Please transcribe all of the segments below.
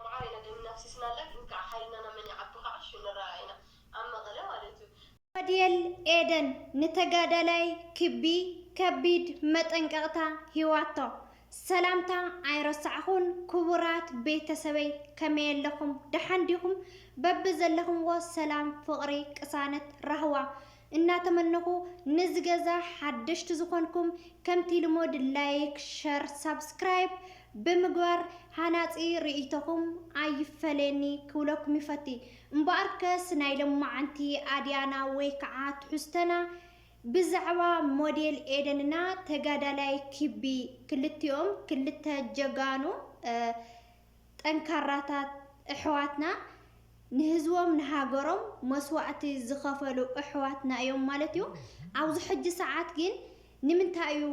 መዓረይ ኢና ደምና ኣፍሲስና ኣላ ግን ካዓ ሓይልና ናብ መን ይዓቢ ካዓ ሽዑ ንራኣኣ ኢና ኣብ መቀለ ማለት እዩ። ዳዲኤል ኤደን ንተጋዳላይ ክቢ ከቢድ መጠንቀቅታ ሂዋቶ። ሰላምታ ኣይረሳዕኹን ክቡራት ቤተሰበይ ከመይ ኣለኹም ደሓን ዲኹም በብዘለኹምዎ ሰላም ፍቅሪ ቅሳነት ራህዋ እናተመነኹ ነዚ ገዛ ሓደሽቲ ዝኾንኩም ከምቲ ልሙድ ላይክ ሸር ሳብስክራይብ ብምግባር ሃናጺ ርእይቶኹም ኣይፈለየኒ ክብለኩም ይፈቲ እምበኣርከስ ናይ ሎማዓንቲ ኣድያና ወይ ከዓ ትሕዝቶና ብዛዕባ ሞዴል ኤደንና ተጋዳላይ ኪቢ ክልቲኦም ክልተ ጀጋኑ ጠንካራታት እሕዋትና ንህዝቦም ንሃገሮም መስዋእቲ ዝኸፈሉ እሕዋትና እዮም ማለት እዩ። ኣብዚ ሕጂ ሰዓት ግን ንምንታይ እዩ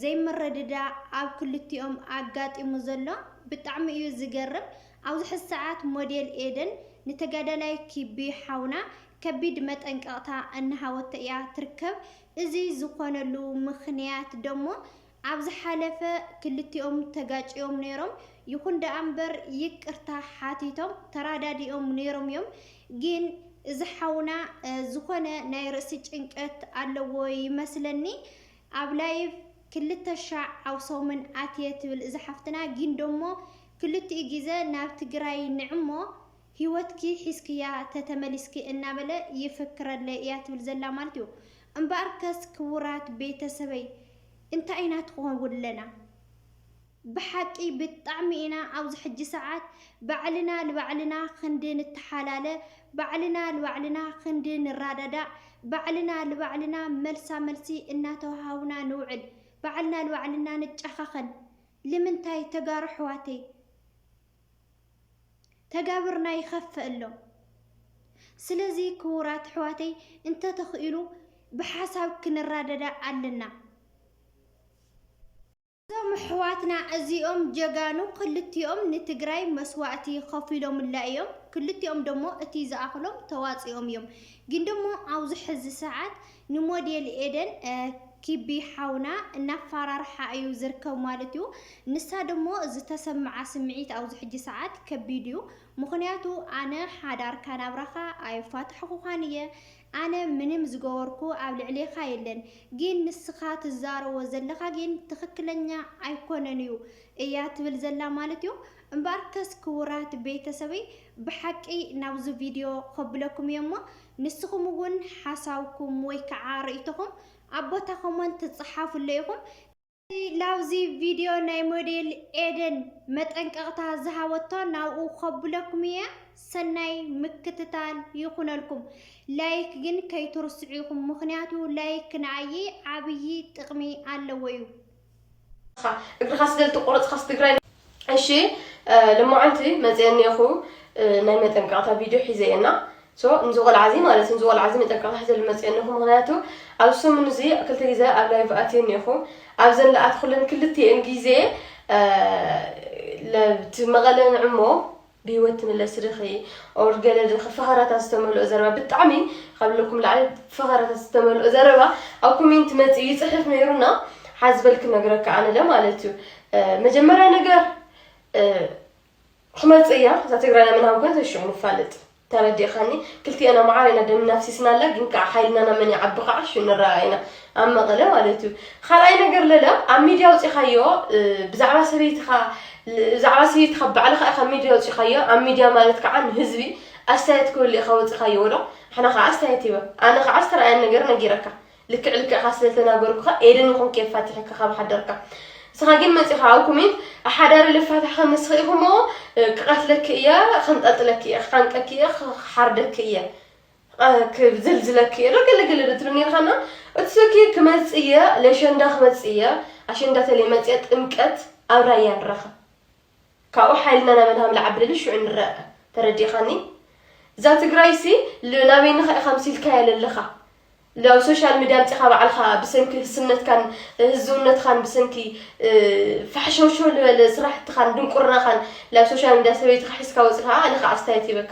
ዘይምርድዳእ ኣብ ክልቲኦም ኣጋጢሙ ዘሎ ብጣዕሚ እዩ ዝገርም። ኣብዚ ሕዚ ሰዓት ሞዴል ኤደን ንተጋዳላይ ኪቢ ሓውና ከቢድ መጠንቀቕታ እናሃወቶ እያ ትርከብ። እዚ ዝኾነሉ ምኽንያት ደሞ ኣብ ዝሓለፈ ክልቲኦም ተጋጭዮም ነይሮም፣ ይኹን ደኣ እምበር ይቅርታ ሓቲቶም ተራዳዲኦም ነይሮም እዮም። ግን እዚ ሓውና ዝኾነ ናይ ርእሲ ጭንቀት ኣለዎ ይመስለኒ ኣብ ላይቭ ክልተ ሻዕ ኣብ ሰሙን ኣትየ ትብል እዛ ሓፍትና ግን ደሞ ክልቲኡ ግዘ ናብ ትግራይ ንዒ እሞ ሂወትኪ ሒዝክያ ተተመሊስኪ እናበለ ይፍክረለይ እያ ትብል ዘላ ማለት እዩ እምበኣርከስ ክቡራት ቤተሰበይ እንታይ ኢና ትኾንውን ለና ብሓቂ ብጣዕሚ ኢና ኣብዚ ሕጂ ሰዓት ባዕልና ልባዕልና ክንዲ ንተሓላለ ባዕልና ልባዕልና ክንዲ ንራዳዳእ ባዕልና ልባዕልና መልሳ መልሲ እናተወሃሃብና ንውዕል ባዕልና ልባዕልና ንጫኻኸን ልምንታይ ተጋሩ ኣሕዋተይ ተጋብርና ይኸፈእሎ ስለዚ ክቡራት ኣሕዋተይ እንተተኽኢሉ ብሓሳብ ክንራደዳ ኣለና። እዞም ኣሕዋትና እዚኦም ጀጋኑ ክልቲኦም ንትግራይ መስዋእቲ ከፊሎምላ እዮም። ክልቲኦም ደሞ እቲ ዝኣኽሎም ተዋፂኦም እዮም። ግን ደሞ ኣብዚ ሕዚ ሰዓት ንሞዴል ኤደን ኪቢ ሓውና እናፋራርሓ እዩ ዝርከብ ማለት እዩ። ንሳ ደሞ ዝተሰምዓ ስምዒት ኣብዚ ሕጂ ሰዓት ከቢድ እዩ። ምኽንያቱ ኣነ ሓዳርካ ናብራኻ ኣየፋታሕኹኻን እየ፣ ኣነ ምንም ዝገበርኩ ኣብ ልዕሌኻ የለን፣ ግን ንስኻ ትዛረቦ ዘለኻ ግን ትኽክለኛ ኣይኮነን እዩ እያ ትብል ዘላ ማለት እዩ። እምበኣርከስ ክቡራት ቤተሰበይ ብሓቂ ናብዚ ቪድዮ ከብለኩም እየ እሞ ንስኹም እውን ሓሳብኩም ወይ ከዓ ርእይቶኹም ኣብ ቦታ ኮመንት ትፀሓፍሉ ኢኹም። እቲ ላብዚ ቪድዮ ናይ ሞዴል ኤደን መጠንቀቕታ ዝሃበቶ ናብኡ ከብለኩም እየ። ሰናይ ምክትታል ይኹነልኩም። ላይክ ግን ከይትርስዑ ኢኹም ምኽንያቱ ላይክ ንኣይይ ዓብዪ ጥቕሚ ኣለዎ እዩ። እግርኻ ስለ ዝተቆረፅካስ ትግራይ እሺ ልማዓንቲ መፅአ እኒኹ ናይ መጠንቀቕታ ቪድዮ ሒዘ እየና ሶ ንዚ ቆልዓ እዚ ማለት ንዚ ቆልዓ እዚ መጠንቀቕታ ሒዘ ልመፅእ እኒኹ ምክንያቱ ኣብ ሰሙን እዚ ክልተ ግዜ ኣብ ላይቭ ኣትየ እኒኹ ኣብዘን ልኣትኩለን ክልቲኤን ግዜ መቐለ ንዕሞ ብሂወት ትምለሲ ድኺ ኦር ገለ ድኺ ፈኸራታት ዝተመልኦ ዘረባ ብጣዕሚ ካብ ለኩም ላዕሊ ፈኸራታት ዝተመልኦ ዘረባ ኣብ ኮሜንት መጽኡ ይጽሕፍ ነይሩና ሓዚ በል ክነግረካ ኣነለ ማለት እዩ መጀመርያ ነገር ክመጽእ እያ እዛ ትግራይና ምናብ ኮን ተሽዑ ንፋልጥ ተረዲእኻኒ ክልቲኤና መዓር ኢና ደም ናፍሲስና ኣላ ግን ከዓ ሓይልናና መን ይዓቢ ከዓ ሹ ንረኣ ኢና ኣብ መቐለ ማለት እዩ ኻልኣይ ነገር ለለ ኣብ ሚድያ ኣውፂኻዮ ብዛዕባ ሰበይትኻ ብዛዕባ ሰበይትኻ ባዕልኻ ኢኻ ሚድያ ኣውፂኻዮ ኣብ ሚድያ ማለት ከዓ ንህዝቢ ኣስተያየት ክህሉ ኢኻ ወፂኻዮ ወዶ ንሕና ከዓ ኣስተያየት ይበ ኣነ ከዓ ዝተረኣየን ነገር ነጊረካ ልክዕ ልክዕኻ ስለተናገርኩኻ ኤደን ይኹን ከየፋትሐካ ካብ ሓደርካ ንስኻ ግን መፂኻ ኣብ ኮሜንት ኣሓዳሪ ልፋታሕ ከምስኺ ኢኹሞ ክቐትለኪ እየ ከንጠልጥለኪ እየ ክሓንቀኪ እየ ክሓርደኪ እየ ቐ ክዝልዝለኪ እየ ዶ ገለ ገለ ዶ ትብል ኔርካ እና እቲ ስልኪ ክመጽእ እየ ለሸንዳ ክመጽእ እየ ኣሸንዳ ተለይ መጽየ ጥምቀት ኣብ ራያ ንራኸብ ካብኡ ሓይልና ናብ ኣድሃ ምልዓብልል ሽዑ ንረኣ ተረዲእኻኒ እዛ ትግራይሲ ል ናበይንኻ ኢኻ ምሲልካያ ለለኻ ላብ ሶሻል ሚድያ ኣምፂኻ ባዕልኻ ብሰንኪ ህስነትካን ህዝውነትኻን ብሰንኪ ፋሕሸውሸው ዝበለ ስራሕትኻን ድንቁርናኻን ላብ ሶሻል ሚድያ ሰበይትኻ ሒዝካ ወፂኻ ኣነ ከዓ ኣስተያየት ይበካ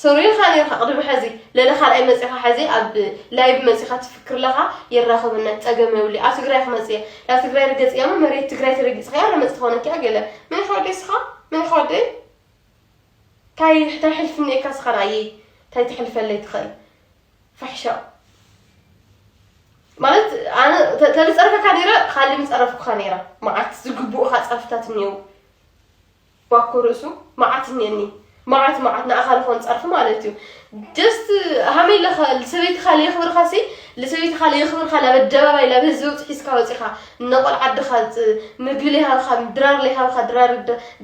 ሰሩ ኢኻ ኔርካ ቅድሚ ሐዚ ለለ ካልኣይ መጺኻ ሐዚ ኣብ ላይብ መጺኻ ትፍክር ለኻ የራኽብነት ጸገም የብሉ ኣብ ትግራይ ክመጽ እየ ላብ ትግራይ ርገጽ እያሞ መሬት ትግራይ ተረጊጽኽያ ለመጽ ትኾነኪያ ገለ መን ኢኻ ወደይ ስኻ መን ኢኻ ወደይ ታይ ታይ ሕልፍ እኒኤካ ስኻ ንኣየይ ታይ ትሕልፈለይ ትኽእል ፋሕሻው ማለት ኣነ ተልፀርፈካ ነይረ ካልእ ምፀረፍኩካ ነይረ መዓት ዝግብኡኻ ፀርፍታት እኒው ባኮ ርእሱ መዓት እኒኤኒ መዓት መዓት ንኣኻ ልኾን ጸርፊ ማለት እዩ ጀስት ሃመይ ለኸ ሰበይትኻ ለየኽብርኻ ሲ ልሰበይትኻ ለየኽብርኻ ላብ ኣደባባይ ላብ ህዝቢ ውፅ ሒዝካ ወፂኻ እነቆል ዓድኻ ምግቢ ለይሃብኻ ድራር ለይሃብኻ ድራር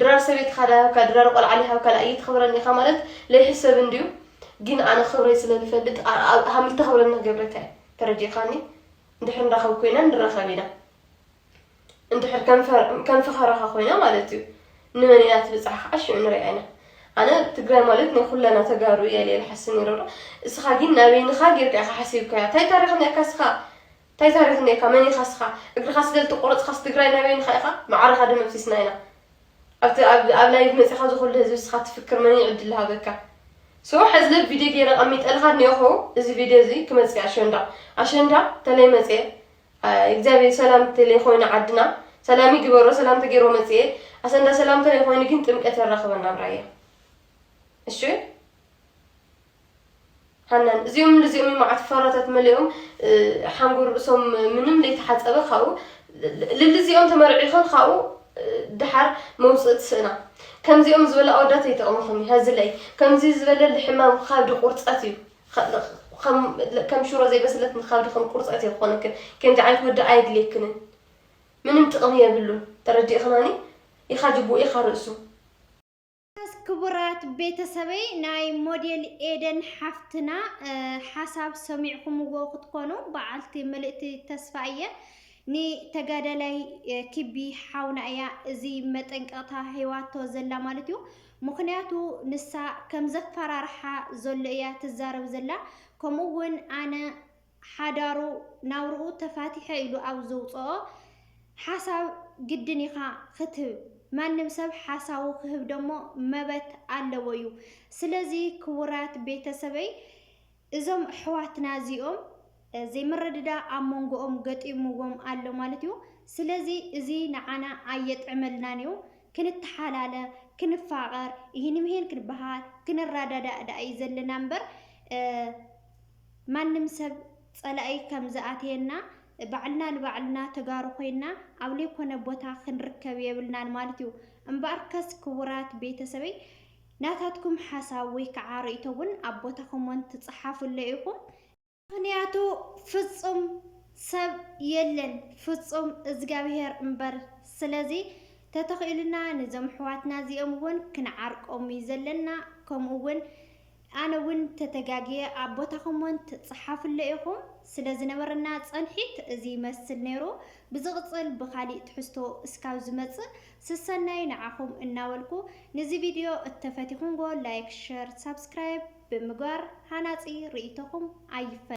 ድራር ሰበይትኻ ዳሃብካ ድራር ቆልዓ ለይሃብካ ላ እይትኽብረኒ ኢኻ ማለት ለይሕሰብ እንድዩ ግን ኣነ ክብረይ ስለ ልፈልጥ ሃምልተኽብረኒ ገብረካ እዩ ተረዲእኻኒ እንድሕር ንራኸብ ኮይና ንራኸብ ኢና እንድሕር ከም ፈኸራኻ ኮይና ማለት እዩ ንመን ኢና ትብጻሕ ከኣ ሽዑ ንሪኣ ኢና ኣነ ትግራይ ማለት ናይ ኩለና ተጋሩ እያ ኢለ ልሓስብ ነይረ ዶ እስኻ ግን ናበይንኻ ጌርካ ኢኻ ሓሲብካያ እንታይ ታሪኽ ነርካ እስኻ እንታይ ታሪኽ ነርካ መን ኢኻ እስኻ እግርኻ ስለ ዝተቆረጽኻስ ትግራይ ናበይንኻ ኢኻ ማዕረኻ ደመብሲስና ኢና ኣብቲ ኣብ ላይቭ መጺኻ ዝኹሉ ህዝቢ እስኻ ትፍክር መን ይዕድል ሃበካ ሶ ሕዚ ለ ቪድዮ ገይረ ቀሚጠልኻ እኒኦኹ እዚ ቪድዮ እዚ ክመፅእ ኣሸንዳ ኣሸንዳ ተለይ መፅኤ እግዚኣብሔር ሰላም ተለይ ኾይኑ ዓድና ሰላም ይግበሮ ሰላም ተገይርዎ መፅኤ ኣሰንዳ ሰላም ተለይ ኾይኑ ግን ጥምቀት የራኽበና ኣብ ራያ እሺ ሃናን እዚኦም ንዚኦም መዓት ፈራታት መሊኦም ሓንጎር ርእሶም ምንም ለይተሓፀበ ካብኡ ልልዚኦም ተመርዒኸን ካብኡ ድሓር መውፅእ ትስእና ከምዚኦም ዝበለ ኣወዳት ኣይጠቕምኹም እዩ ሃዝለይ ከምዚ ዝበለ ልሕማም ካብ ድቑርፀት እዩ ኸም ከም ሽሮ ዘይበሰለት ንኻብዲ ከም ቁርፀት እየ ክኾነክን ከምዚ ዓይነት ወዲ ኣየድልየክንን ምንም ጥቕሚ የብሉን ተረዲእኽናኒ ኢኻ ጅቡኡ ኢኻ ርእሱ ክቡራት ቤተሰበይ ናይ ሞዴል ኤደን ሓፍትና ሓሳብ ሰሚዕኹምዎ ክትኮኑ በዓልቲ ምልእቲ ተስፋ እየ ንተጋዳላይ ክቢ ሓውና እያ እዚ መጠንቀቕታ ሂዋቶ ዘላ ማለት እዩ ምኽንያቱ ንሳ ከም ዘፋራርሓ ዘሎ እያ ትዛረብ ዘላ ከምኡ ውን ኣነ ሓዳሩ ናብርኡ ተፋቲሐ ኢሉ ኣብ ዘውጸኦ ሓሳብ ግድን ኢኻ ክትህብ ማንም ሰብ ሓሳቡ ክህብ ደሞ መበት ኣለዎ እዩ ስለዚ ክቡራት ቤተሰበይ እዞም ኣሕዋትና እዚኦም ዘይምርድዳእ ኣብ ሞንጎኦም ገጢምዎም ኣሎ ማለት እዩ። ስለዚ እዚ ንዓና ኣየጥዕመልናን እዩ። ክንተሓላለ፣ ክንፋቐር፣ እሂን ምሂን ክንበሃል፣ ክንረዳዳእ ደኣ እዩ ዘለና እምበር ማንም ሰብ ጸላኢ ከም ዝኣትየና ባዕልና ንባዕልና ተጋሩ ኮይና ኣብ ዘይኮነ ቦታ ክንርከብ የብልናን ማለት እዩ። እምበኣርከስ ክቡራት ቤተሰበይ ናታትኩም ሓሳብ ወይ ከዓ ርእይቶ እውን ኣብ ቦታ ኮሞንት ትፅሓፉለይ ኢኹም። ምኽንያቱ ፍፁም ሰብ የለን ፍፁም እዝጋብሄር እምበር። ስለዚ ተተኺኢሉና ንዞም ኣሕዋትና እዚኦም እውን ክንዓርቆም እዩ ዘለና። ከምኡ እውን ኣነ እውን ተተጋግየ ኣብ ቦታ ኮሞንት ፅሓፉለይ ኢኹም። ስለ ዝነበረና ፀንሒት እዚ ይመስል ነይሩ። ብዝቕፅል ብኻሊእ ትሕዝቶ እስካብ ዝመፅእ ስሰናዩ ንዓኹም እናበልኩ ንዚ ቪድዮ እተፈቲኹምዎ ላይክ ሸር ሳብስክራይብ ብምግባር ሃናጺ ርእይቶኹም ኣይፈ።